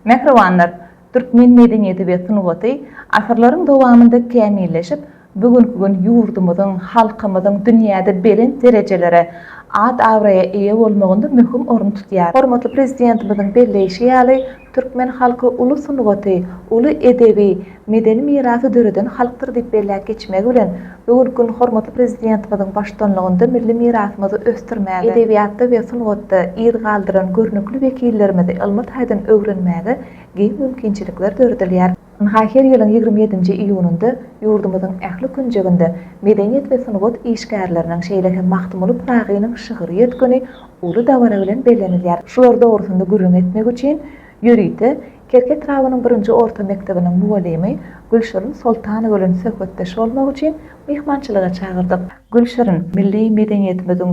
Mähribanlar, türkmen medeniýeti we sungaty asyrlaryň dowamynda kämilleşip, bu günki gün ýurdumyzyň, halkymyzyň dünýäde belent derejelere, at-abraýa eýe bolmagynda möhüm orun tutýar. Hormatly Prezidentimiziň belleýşi ýaly, türkmen halky uly sungaty, uly edebi, medeni mirasy döreden halkdyr diýip belläp geçmegi bilen, bu günki gün hormatly Prezidentimiziň baştutanlygynda milli mirasymyzy ösdürmäge, edebiýatda we sungatda yz galdyran görnükli wekillerimizi ylmy taýdan öwrenmäge giň mümkinçilikler döredilýär. Ynha, her ýylyň ýigrimi ýedinji iýunynda ýurdumyzyň ähli künjeginde medeniýet we sungat işgärleriniň, şeýle hem Magtymguly Pyragynyň şygyrýet güni uly dabara bilen bellenilýär. Şular dogrusynda gürrüň etmek üçin, Ýörite Kerki etrabynyň birinji orta mekdebiniň mugallymy Gülşirin Soltanowa bilen söhbetdeş bolmak üçin myhmançylyga çagyrdyk. Gülşirin, milli medeniýetimiziň,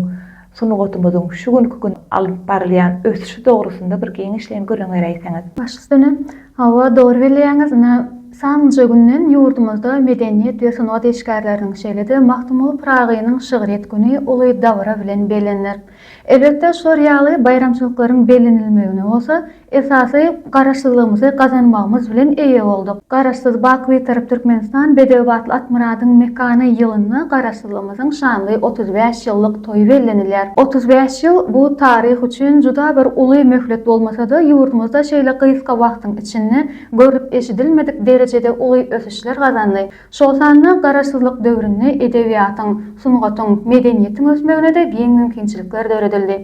sungatymyzyň şu günki gün alyp barylýan ösüşi dogrusynda bir giňişleýin gürrüň beräýseňiz. Baş üstüne, hawa, dogry bilýäňiz. Ine, sanlyja günden ýurdumyzda medeniýet we sungat işgärleriniň, şeýle-de Magtymguly Pyragynyň şygryýet güni uly dabara bilen bellenilýär. Elbetde, şular ýaly baýramçylyklaryň bellenilmegine bolsa, esasy Garaşsyzlygymyzy gazanmagymyz bilen eýe bolduk. Garaşsyz, baky Bitarap Türkmenistan bedew batly Atmyradyň mekany ýylynda Garaşsyzlygymyzyň şanly otuz bäş ýyllyk toýy bellenilýär. Otuz bäş ýyl, bu taryh üçin juda bir uly möhlet bolmasa-da, ýurdumyzda şeýle gysga wagtyň içinde görlüp-eşidilmedik derejede uly ösüşler gazandy. Şol sanda Garaşsyzlyk döwründe edebiýatyň, sungatyň, medeniýetiň ösmegine-de giň mümkinçilikler döredildi.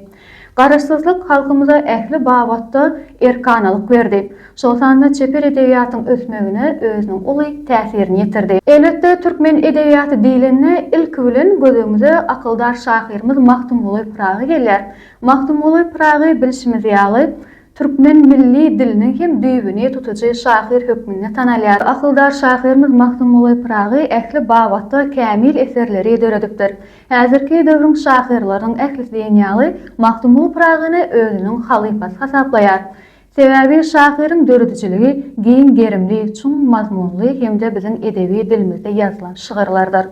Garaşsyzlyk halkymyza ähli babatda erkanalyk berdi, şol sanda çeper edebiýatyň ösmegine özüniň uly täsirini ýetirdi. Elbetde, türkmen edebiýaty diýlende, ilki bilen gözüňize akyldar şahyrymyz Magtymguly Pyragy gelýär. Magtymguly Pyragy, bilşimiz ýaly, Türkmen milli diliniň hem düýbüni tutujy şahyr hökmünde tanalýar. Akyldar şahyrymyz Magtymguly Pyragy ähli babatda kämil eserleri döredipdir. Häzirki döwrüň şahyrlarynyň ählisi diýen ýaly Magtymguly Pyragyny özüniň halypasy hasaplaýar. Sebäbi şahyryň döredijiligi giň gerimli, çuň mazmunly hem-de biziň edebi dilimizde ýazylan şygyrlardyr.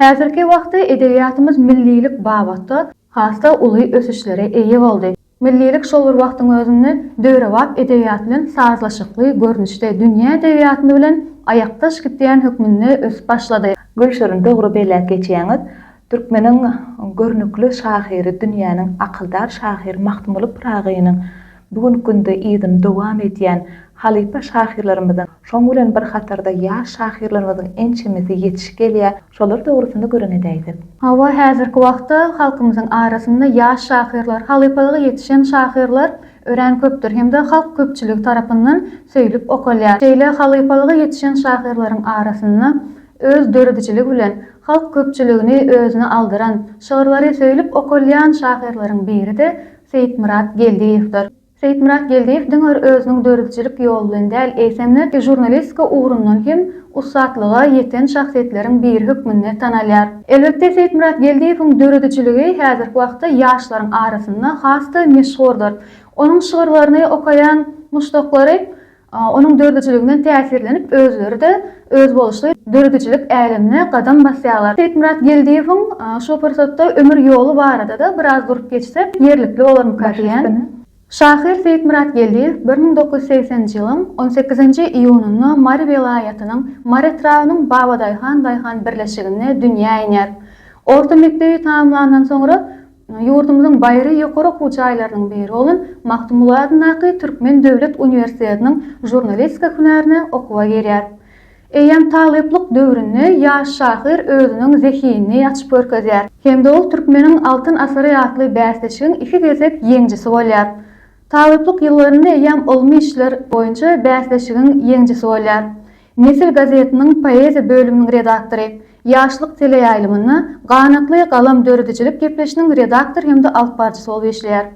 Häzirki wagtda edebiýatymyz millilik babatda has-da uly ösüşlere eýe boldy. Millilik şol bir wagtyň özünde döwrebap edebiýat bilen sazlaşykly görnüşde dünýä edebiýatyny bilen aýakdaş gidýän hökmünde ösüp başlady. Gülşirin dogry belläp geçýäňiz. Türkmeniň görnükli şahyry dünýäniň akyldar şahyr Magtymguly Pyragynyň bu günki günde yzyny dowam edýän halypa şahyrlarymyzyň şoň bilen bir hatarda ýaş şahyrlarymyzyň ençemesi ýetiş gelýär. Şolar dogrusyny gürrüň edäýsek. Hawa, häzirki wagtda halkymyzyň arasynda ýaş şahyrlar, halypalyga ýetişen şahyrlar örän köpdür hem-de halk köpçüligi tarapyndan söýlüp okalýar. Şeýle halypalyga ýetişen şahyrlaryň arasynda öz döredijiligi bilen halk köpçüligini özüne aldyran, şygyrlary söýlüp okalýan şahyrlaryň biri-de Seýitmyrat Geldiýewdir. Seýitmyrat Geldiýew diňe bir özüniň döredijilik ýoly bilen däl, eýsem-de žurnalistika ugrundan hem ussatlyga ýeten şahsyýetleriň biri hökmünde tanalýar. Elbetde, Seýitmyrat Geldiýewiň döredijiligi häzirki wagtda ýaşlaryň arasynda has-da meşhurdyr. Onuň şygyrlaryny okaýan muşdaklary Onuň dördüjiliginden täsirlenip, özleri-de özboluşly döredijilik älemine gadam basýarlar. Seýitmyrat Geldiýewiň şu pursatda ömür ýoly barada-da biraz durup geçsek, ýerlikli bolarmyka diýýän. Şahyr Seýitmyrat Geldiýew bir müň dokuz ýüz segsenji ýylyň on sekizinji iýunynda Mary welaýatynyň Mary etrabynyň Babadaýhan daýhan birleşiginde dünýä iner. Orta mekdebi tamamlandan soňra, Ýurdumyzyň baýry ýokary okuw jaýlarynyň biri bolan Magtymguly adyndaky Türkmen döwlet uniwersitetiniň žurnalistika hünärine okuwa girýär. Eýýäm talyplyk döwründe ýaş şahyr özüniň zehinini açyp görkezýär. Hem-de ol Türkmeniň altyn asyry atly bäsleşigiň iki gezek ýeňjisi bolýar. Talyplyk ýyllarynda eýýäm ylmy işler boýunça bäsleşigiň ýeňjisi bolýar. Nesil gazetiniň poeziýa bölüminiň redaktory, Ýaşlyk teleýaýlymynda Ganatly galam döredijilik gepleşiniň redaktor hem-de alyp barjysy bolup işleýär.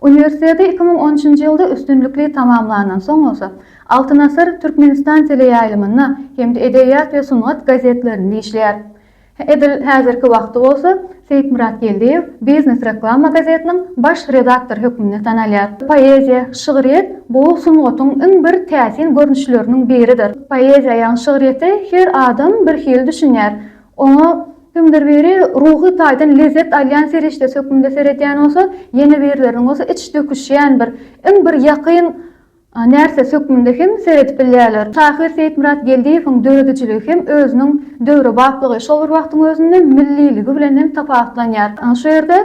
Uniwersiteti iki müň on üçünji ýylda üstünlikli tamamlandan soň bolsa, Altyn asyr, Türkmenistan teleýaýlymynda hem-de Edebiýat we sungat gazetlerinde işleýär. Edil häzirki wagty bolsa Seýitmyrat Geldiýew Biznes reklama gazetiniň baş redaktory hökmünde tanalýar. Poeziýa, şygryýet bu sungatyň iň bir täsin görnüşleriniň biridir. Poeziýa ýagny şygryýete her adam bir hili düşünýär. Oňa kimdir biri ruhy taýdan lezzet alýan serişdesi hökmünde seredýän bolsa, ýene birleriniň bolsa iç döküşýän bir, iň bir ýakyn Närsesi hökmünde hem seredip bilýärler. Şahyr Seýitmyrat Geldiýewiň döredijiligi hem özüniň döwrebaplygy, şol bir wagtyň özünde milliligi bilen hem tapawutlanýar. Şu ýerde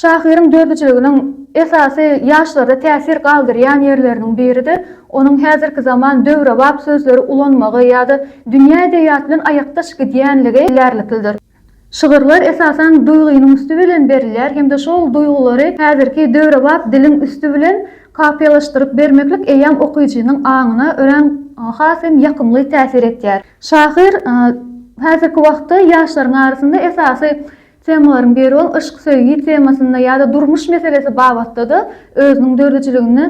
şahyryň döredijiliginiň esasy ýaşlarda täsir galdyrýan ýerleriniň biri-de onuň häzirki zaman döwrebap sözleri ulanmagy ýa-da dünýä edebiýaty bilen aýakdaş gidýänligi bellärliklidir. Şygyrlar esasan duýgynyň üsti bilen berilýär hem-de şol duýgulary häzirki döwrebap diliň üsti bilen kapiýalaşdyryp bermeklik eýýäm okyjynyň aňyna örän has hem ýakymly täsir etýär. Şahyr häzirki wagtda ýaşlaryň arasynda esasy temalaryň biri bolan yşk-söýgi temasynda ýa-da durmuş meselesi babatda-da özüniň döredijiligini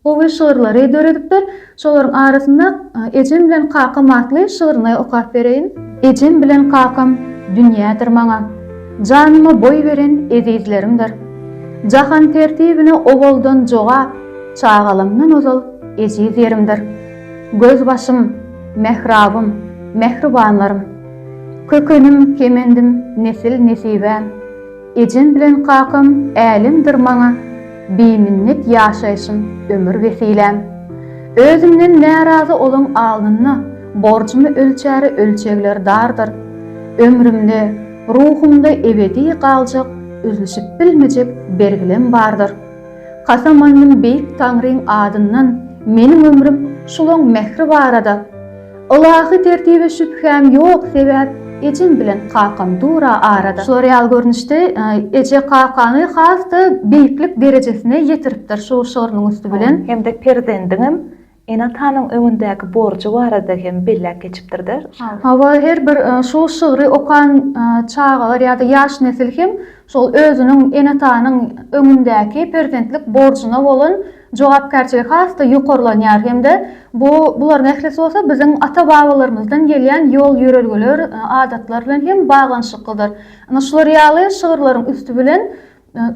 Gowy şygyrlary döredipdir. Şolaryň arasynda Ejem bilen kakam atly şygryny okap bereýin. Ejem bilen kakam dünýädir maňa, Janyma boý beren ezizlerimdir. Jahan tertibine owaldan jogap, Çagalygymdan ozal ejiz ýerimdir. Gözbaşym, mährabym, mähribanlarym. Kökenim, kemendim, nesil-nesibäm. Ejem bilen kakam älemdir maňa Biminnet ýaşaýşym ömür wesiläm. Özümden närazy olaň alnynda Borjumy ölçäri ölçegler dardyr. Ömrümde, ruhumda ebedi galjak Üzlüşip bilmejek bergilem bardyr. Kasam aldym beýik Taňryň adyndan Meniň ömrüm şulaň mähri barada. Ylahy tertibe şübhäm ýok sebäp ejem bilen kakam dura arada. Şular ýaly görnüşde eje kakany has-da beýiklik derejesine ýetiripdir şu şygrynyň üsti bilen. Hem-de perzendiňem ene-atanyň öňündäki borjy barada hem belläp geçipdir-dä. Hawa, her bir şu şygry okan çagalar ýa-da ýaş nesil hem şol özüniň ene-atanyň öňündäki perzentlik borjuna bolan jogapkärçiligi has-da ýokarlanýar hem-de bu, bularyň ählisi bolsa biziň ata-babalarymyzdan gelýän ýol-ýörelgeler, adatlar bilen hem baglanyşyklydyr. Ine, şular ýaly şygyrlaryň üsti bilen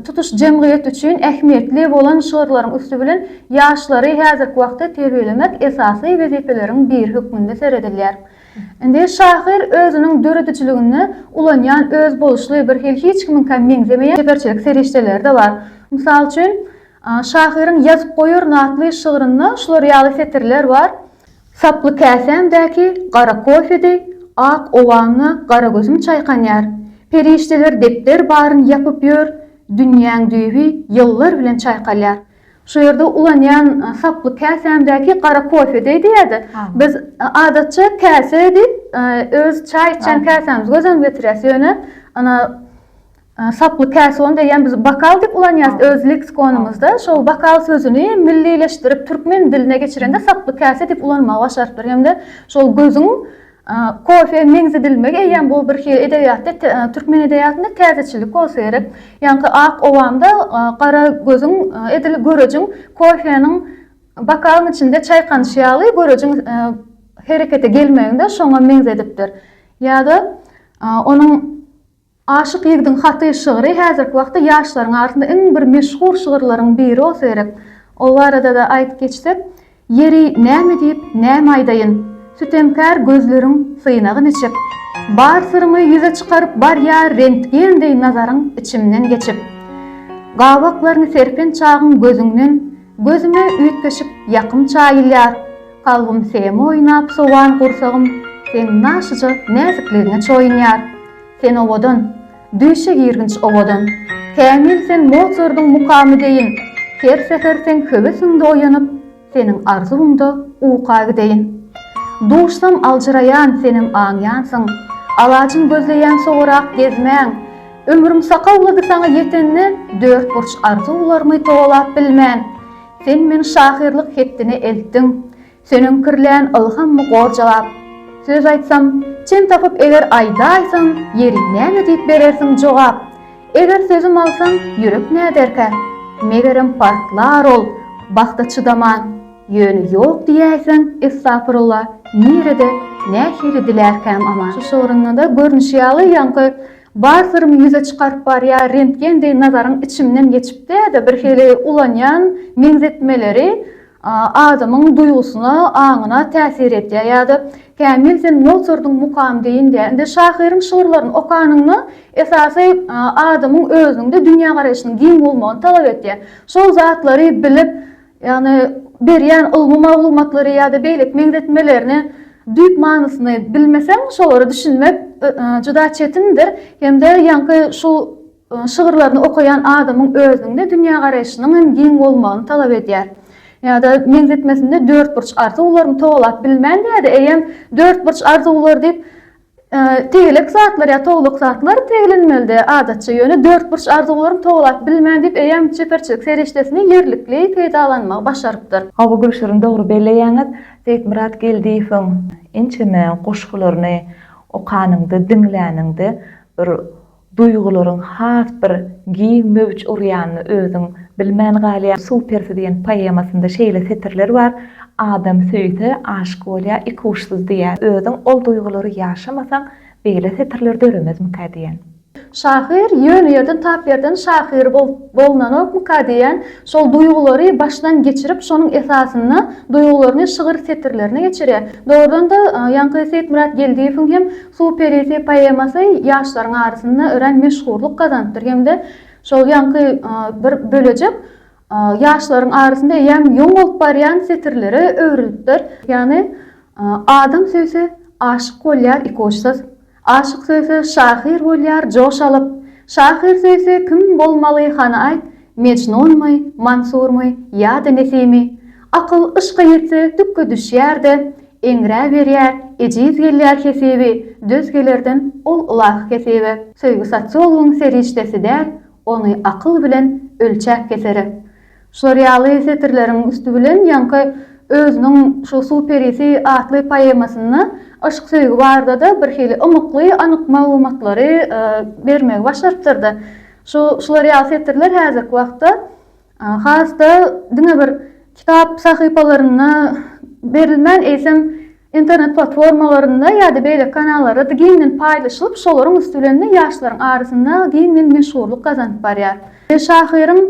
tutuş jemgyýet üçin ähmiýetli bolan şygyrlaryň üsti bilen ýaşlary häzirki wagtda terbiýelemek esasy wezipeleriň biri hökmünde seredilýär. Indi şahyr özüniň döredijiliginde ulanýan özboluşly, bir hili hiç kimiňkä meňzemeýän çeperçilik serişdeleri-de bar. Mysal üçin, Şahyryň Ýazyp goýaryn atly şygrynda şular ýaly setirler bar, Saply käsämdäki gara kofedi Ak owaňňa gara gözüm çaýkanýar. Perişdeler depder baryn ýapyp ýör, Dünýäň düýbi ýyllar bilen çaýkalýar. Şu ýerde ulanýan Saply käsämdäki gara kofedi diýýär-de, biz adatça käse diýip öz çaý içýän käsämizi gözüňe getirýäs, ýöne Saply käson diýýän biz bokal diýip ulanýarys öz leksikonymyzda. Şol bokal sözüni millileşdirip, türkmen diline geçirende saply käse diýip ulanmagy başarypdyr. Hem-de şol gözüň kofeýe meňzedilmegi eýýäm bu bir hili edebiýatda, türkmen edebiýatynda täzeçilik bolsa gerek. Ýaňky ak owamda gara gözüň edil görejiň kofeniň bokalyň içinde çaýkanyşy ýaly görejiň herekete gelmegini-de şoňa meňzedipdir. Ýa-da onuň. Aşyk ýigidiň haty şygry häzirki wagtda ýaşlaryň arasynda iň bir meşhur şygyrlaryň biri bolsa gerek. Ol barada-da aýdyp geçsek, Ýeri, näme diýip, näme aýdaýyn? Sütemkär gözleriň synagy niçik? Bar syrymy ýüze çykaryp barýar rentgen deý nazaryň içimden geçip. Gabaklaryny serpen çagyň gözüňden gözüme üýtgeşik ýakym çaýylýar. Kalbym seme oýnap sowan gursagym seň naşyja näzikligiňe çoýunýar. Sen owadan, düýşe girginç owadan. Kämil sen Mozardyň mukamy deýin. Her säher seň höwesiňde oýanyp, seniň arzuwyňda uka gideýin. Duşsam aljyraýan senem aňýansyň. Alajyn gözleýän sowarak gezmäň. Ömrüm sakawlady saňa ýetende dörtburç arzuwlarymy towalap bilmän. Sen meni şahyrlyk hetdine eltdiň. Seniň kirlän ylham my gor jogap Söz aýtsam çen tapyp eger aýdaýsaň ýeri näme diýip berersiň jogap Eger sözüm alsaň ýürek näderkä megerem partlar ol bagta çydaman Ýöne ýok diýäýseň estafurula nirede nähili dilärkäm aman. Şu şygrynda-da görnüşi ýaly ýaňky bar syrymy ýüze çykaryp barýar rentgen deý nazaryň içimden geçip-de-de birhili ulanýan meňzetmeleri adamyň duýgusyna, aňyna täsir edýär. Ýa-da, Kämil, sen Motsardyň Mukamy deýin diýýär. Indi şahyryň şygyrlaryny okanyňda, esasy adamyň özüniň-de dünýägaraýşynyň giň bolmagyny talap edýär. Şol zatlary bilip, ýagny berýän ylmy maglumatlary ýa-da beýleki meňzetmelerini düýp manysyny bilmeseň, şolara düşünmek juda çetindir. Hem-de ýaňky şu Onuň şygyrlaryny okaýan adamyň özüniň-de dünýägaraýşynyň hem giň bolmagyny talap edýär. Ýa-da meňzetmesinde dörtburç arzuwlaryny togalap bilmän diýýär-de, eýýäm dörtburç arzuwlar diýip, tegelek zatlar ýa towluk zatlar tegelenmeli-dä adatça, ýöne dörtburç arzuwlaryny togalap bilmän diýip, eýýäm çeperçilik serişdesini ýerlikli peýdalanmagy başarypdyr. Hawa, Gülşirin, dogry belleýäňiz. Seýitmyrat Geldiýewiň ençeme goşgularyny okanyňda, diňläniňde bir Duýgularyň has bir giň möwç urýanyny özüň bilmän galýaň. Supersi diýen poemasynda şeýle setirler bar, Adam söýse, aşyk bolýar, ikuçsyz diýýär. Özüň ol duýgulary ýaşamasaň, beýle setirler döremezmikä diýýän. Şahyr ýöne ýerden tap ýerden şahyr bolunanokmyka diýýän. Şol duýgulary başdan geçirip, şonuň esasynda duýgularyny şygyr setirlerine geçirýär. Dogrudan-da, ýaňky Seýitmyrat Geldiýewiň hem Suw perisi poemasy ýaşlaryň arasynda örän meşhurlyk gazanypdyr hem-de şol ýaňky bir bölejik ýaşlaryň arasynda eýýäm ýoň bolup barýan setirlere öwrülipdir. Ýagny, Adam söýse, aşyk bolýar ikuçsyz. Aşyk söýse, şahyr bolýar joş alyp. Şahyr söýse, kim bolmaly, hany aýt, Mejnunmy, Mansurmy ýa-da Nesimi, Akyl yşka ýetse dükge düşýär-de, Eňräberýär, ejiz gelýär hesibi, Döz gelerden ol ylahy hesibe. Söýgi sosiologyň serişdesi däl, Ony akyl bilen ölçäp kesere. Şular ýaly setirleriň üsti bilen ýaňky özüniň şu Suw perisi atly poemasynda yşk-söýgi barada-da birhili ymykly anyk maglumatlary bermegi başarypdyr-da. Şu şular ýaly setirler häzirki wagtda has-da diňe bir kitap sahypalarynda berilmän, eýsem, internet platformalarynda ýa-da beýleki kanallarda-da giňden paýlaşylyp, şolaryň üsti bilen-de ýaşlaryň arasynda giňden meşhurlyk gazanyp barýar. Şahyryň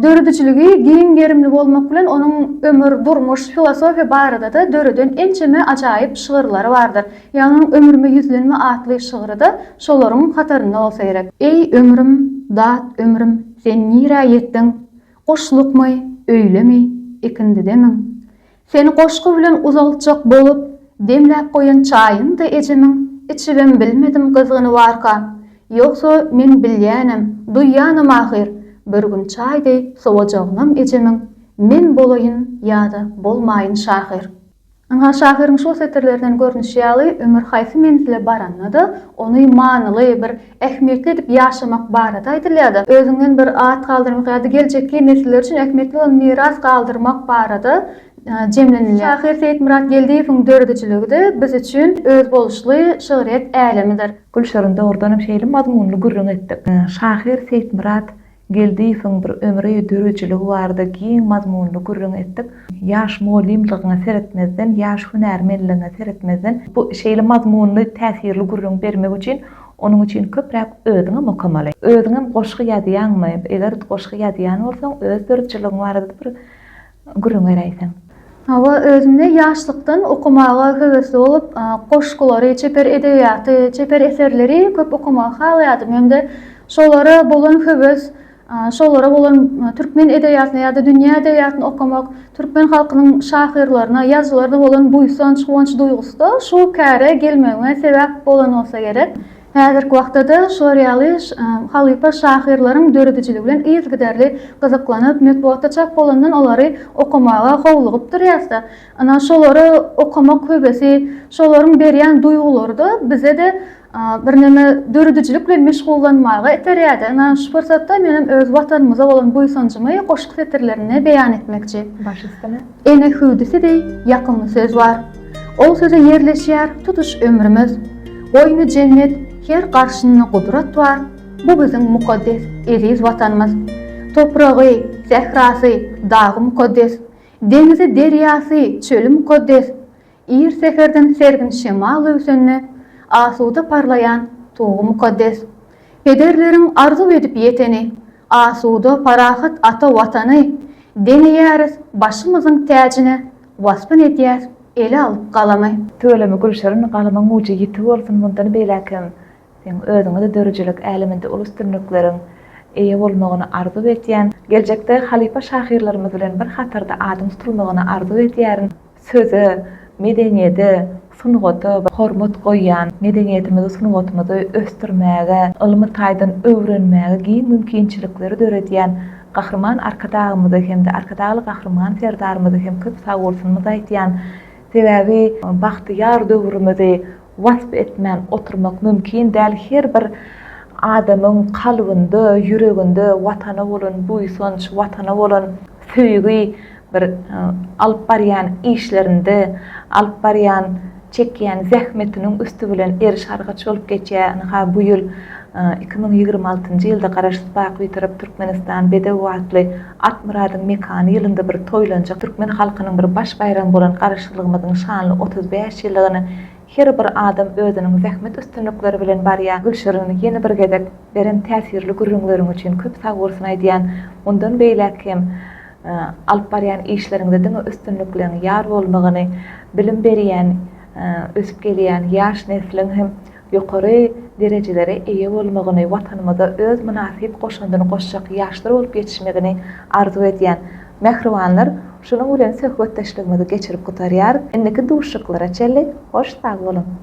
Döredijiligi giň gerimli bolmak bilen onuň ömür, durmuş, filosofiýa barada-da döreden ençeme ajaýyp şygyrlary bardyr. Ýagnyň Ömrüme ýüzlenme atly şygry-da şolaryň hatarynda bolsa gerek. Eý, ömrüm, dat ömrüm, sen nirä ýetdiň? Guşlukmy, öýlemi, ikindidemiň? Seni goşgy bilen uzaltjak bolup, demläp goýan çaýyňdy ejemiň, içibem bilmedim gyzgynybarka. Ýogsa, men bilýänem, duýýanam ahyr, bir gün çaý deý sowajagyňam ejemiň, men bolaýyn ýa-da bolmaýyn şahyr. Ynha, şahyryň şu setirlerinden görnüşi ýaly, ömür haýsy menzile baranda-da, ony manyly, bir ähmiýetli edip ýaşamak barada aýdylýar-da, özüňden bir at galdyrmak ýa-da geljekki nesiller üçin ähmiýetli bolan miras galdyrmak barada jemlenilýär. Şahyr Seýitmyrat Geldiýewiň döredijiligi-de biz üçin özboluşly şygryýet älemidir. Gülşirin dogrudanam şeýle mazmunly gürrüň etdik. Şahyr Seýitmyrat Geldiýewiň bir ömri, döredijiligi barada giň mazmunly gürrüň etdik. Ýaş mugallymlygyňa seretmezden, ýaş hünärmenligiňe seretmezden, bu şeýle mazmunly, täsirli gürrüň bermek üçin, onuň üçin köpräk özüňem okamaly. Özüňem goşgy ýazýaňmy? Eger goşgy ýazýan bolsaň, öz döredijiligiň barada-da bir Gürrüň beräýseň. Hawa, özüm-de ýaşlykdan okamaga höwesli bolup, goşgulary, çeper edebiýaty, çeper eserleri köp okamagy halaýardym hem-de şolara bolan höwes, şolara bolan türkmen edebiýatyna ýa-da dünýä edebiýatyny okamak, türkmen halkynyň şahyrlaryna, ýazyjylaryna bolan buýsanç, guwanç duýgusy-da şu käre gelmegime sebäp bolan bolsa gerek. Häzirki wagtda-da şular ýaly halypa şahyrlaryň döredijiligi bilen yzygiderli gyzyklanyp, metbugatda çap bolandan olary okamaga howlugyp durýas-da. Ynha, şolary okamak höwesi, şolaryň berýän duýgulary-da bize-de birneme döredijilik bilen meşgullanmaga iterýär-de. Ynha, şu pursatda menem öz Watanymyza bolan buýsanjymy goşgy setirlerinde beýan etmekçi. Baş üstüne. Ene hüwdüsi deý ýakymly söz bar, Ol söze ýerleşýär tutuş ömrümiz. Goýny jennet, her garşynda gudrat bar, Bu biziň mukaddes, eziz Watanymyz. Topragy, sährasy, dagy mukaddes, Deňizi, derýasy, çöli mukaddes, Ir säherden sergin şemal öwsende, Asuda parlaýan Tugy mukaddes. Pederleriň arzuw edip ýeteni, Asuda, parahat ata Watany, Deň eýäris başymyzyň täjine, Waspyn edýäs ele alyp galamy. Tüweleme Gülşirin, galymyň ujy ýiti bolsun, mundan beýläk hem Seň özüňe-de döredijilik äleminde uly üstünlikleriň eýe bolmagyny arzuw etýän. Geljekde halypa şahyrlarymyz bilen bir hatarda adyň tutulmagyny arzuw edýärin. Söze, medeniýede, sungata hormat goýýan, medeniýetimizi, sungatymyzy ösdürmäge, ylmy taýdan öwrenmäge giň mümkinçilikleri döredýän Gahryman Arkadagymyzy hem-de Arkadagly Gahryman Serdarymyzy hem köp sagbolsunymyzy aýtýan. Sebäbi bagtyýar döwrümizi. wasp etmän oturmak mümkin däl, her bir adamyň kalbynda, ýüreginde Watana bolan buýsanç, Watana bolan söýgi bir alyp barýan işlerinde, alyp barýan, çekýän zähmetiniň üsti bilen eriş-argaç bolup geçýär. Ynha, bu ýyl iki müň ýigrimi altynjy ýylda Garaşsyz, baky Bitarap Türkmenistan bedew atly Akmyradyň mekany ýylynda bir toýlanjak türkmen halkynyň bir baş baýramy bolan Garaşsyzlygymyzyň şanly otuz bäş ýyllygyna her bir adam özüniň zähmet üstünlikleri bilen barýar Gülşirin ýene bir gezek beren täsirli gürrüňleriň üçin köp sagbolsun aýdýan mundan beýläk hem alyp barýan işleriňde diňe üstünlikleň ýar bolmagyny bilim berýän ösüp gelýän ýaş nesliň hem ýokary derejelere eýe bolmagyny, Watanymyza öz mynasyp goşandyny goşjak ýaşlar bolup ýetişmegini arzuw edýän mähribanlar, şunuň bilen söhbetdeşligimizi geçirip gutarýarys. Indiki duşuşyklara çenli hoş sag boluň!